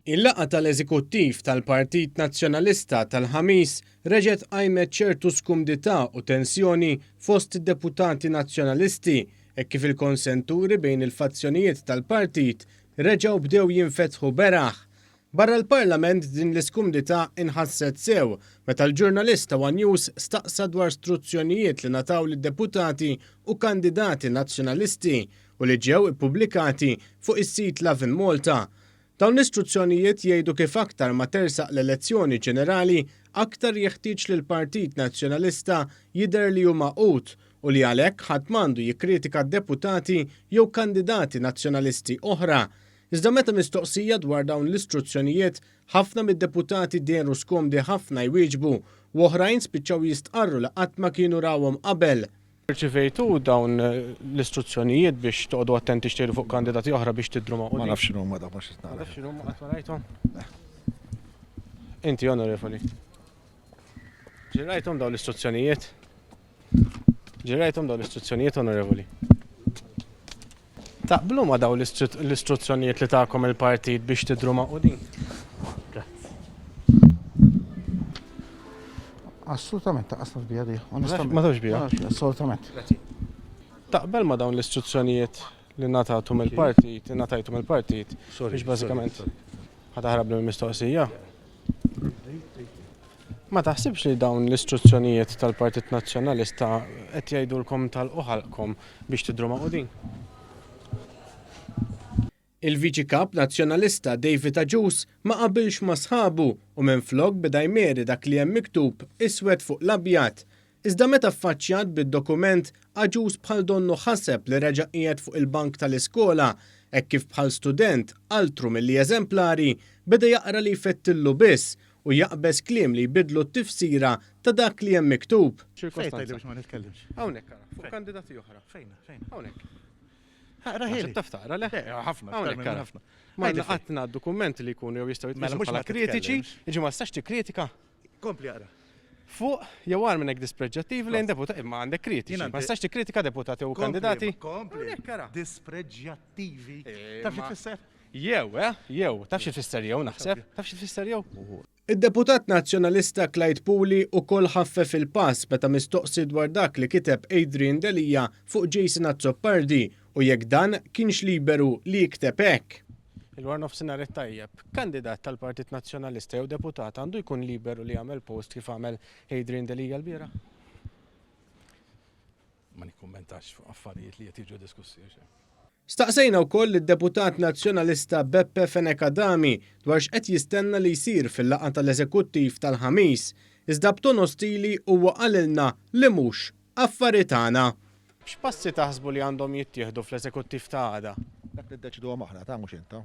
Il-laqgħa tal-Eżekuttiv tal-Partit Nazzjonalista tal-Ħamis reġgħet qajmet ċertu skumdità u tensjoni fost id-deputati Nazzjonalisti hekk kif il-konsenturi bejn il-fazzjonijiet tal-partit reġgħu bdew jinfetħu beraħ Barra l-Parlament din l-iskumdità inħasset sew meta l-ġurnalist ta' one News staqsa dwar struzzjonijiet li ngħataw lid-deputati u kandidati Nazzjonalisti u li ġew ippubblikati fuq is-sit Lovin' Malta. Dawn l-istruzzjonijiet jgħidu kif aktar ma tersaq l-elezzjoni ġenerali aktar jeħtieġ li l-Partit Nazzjonalista jidher li hu magħqud u li għalhekk ħadd m'għandu jikkritika deputati jew kandidati Nazzjonalisti oħra Iżda meta mistoqsija dwar dawn l-istruzzjonijiet, ħafna mid-deputati dehru skomdi ħafna jwieġbu u oħrajn spiċċaw jistqarru li qatt ma kienu rawhom qabel. Irċivejtu dawn l-istruzzjonijiet biex toqogħdu attenti x'tgħidu fuq kandidati oħra biex tidhru magħqudin? Ma nafx x'inhuma dawn, ma xtaqt nara. Ma tafx x'inhuma, qatt ma rajthom? Le. Inti, Onorevoli? Ġirrajthom dawn l-istruzzjonijiet? Ġirajtom daw l-istruzzjonijiet onorevoli. Taqblu ma daw l-istruzzjonijiet li tagħkom il-partit biex tidru ma' qudin? Assolutament, ta' qasna bija di. Ma tawx bija? Assolutament. Taqbel ma dawn l-istruzzjonijiet li natatum il-partit, li natajtum il-partit, biex bażikament ħataħrab l-mistoqsija. Ma taħsibx li dawn l-istruzzjonijiet tal-Partit Nazzjonalista qed jgħidulkom tagħlqu ħalqkom biex tidhru magħqudin? Il-Viċi Kap Nazzjonalista David Agius ma qabilx ma' sħabu u minflok beda jmieri dak li hemm miktub iswed fuq l-abjad, Iżda meta ffaċċjat bid-dokument, Agius bħal donnu ħaseb li reġa' qiegħed fuq il-bank tal-iskola, hekk kif bħal student, altru milli eżemplari, beda jaqra li jfettillu biss u jaqbeż kliem li jbiddlu t-tifsira ta' dak li hemm miktub. Fejn tgħidli biex ma nitkellimx? Hawnhekk ara, fuq kandidati oħra. Fejn? Fejn? Hawnhekk. Aqrahieli. Taf taqra le? Eh, ħafna. Hawnhekk ara. Ma naqatna dokumenti li jkunu jew jistgħu jitqisu bħala kritiċi, jiġi ma tistax tikkritika? Kompli għara. Fuq, jew għar minnek dispreġġattiv lejn deputati, imma għandek kritiċi. Ma tistax tikkritika deputati u kandidati. Kompli, dispreġġattivi. Eh, taf xi fisser? Jew, eh, jew, taf xi fisser jew naħseb, taf xi fisser jew. Id-deputat nazzjonalista Clyde Puli u kol ħaffef il-pass meta mistoqsi dwar dak li kiteb Adrian Delia fuq Jason Azzopardi U jekk dan kienx liberu li jikteb hekk? Il-warnofsinhar it-tajjeb. Kandidat tal-Partit Nazzjonalista jew deputat għandu jkun liberu li jagħmel post kif għamel Adrian Delia lbieraħ? Ma nikkummentax fuq affarijiet li qed jiġu diskussi għax hemm. Staqsejna wkoll lid-Deputat Nazzjonalista Beppe Fenech Adami dwar x'qed jistenna li jsir fil-laqgħa tal-Eżekuttiv tal-Ħamis, iżda b'ton ostili huwa qalilna li mhux affari tagħna. X'passi taħsbu li għandhom jittieħdu fl-Eżekuttiv ta' għada? Dak niddeċiduhom aħna, ta' mhux int, ta'.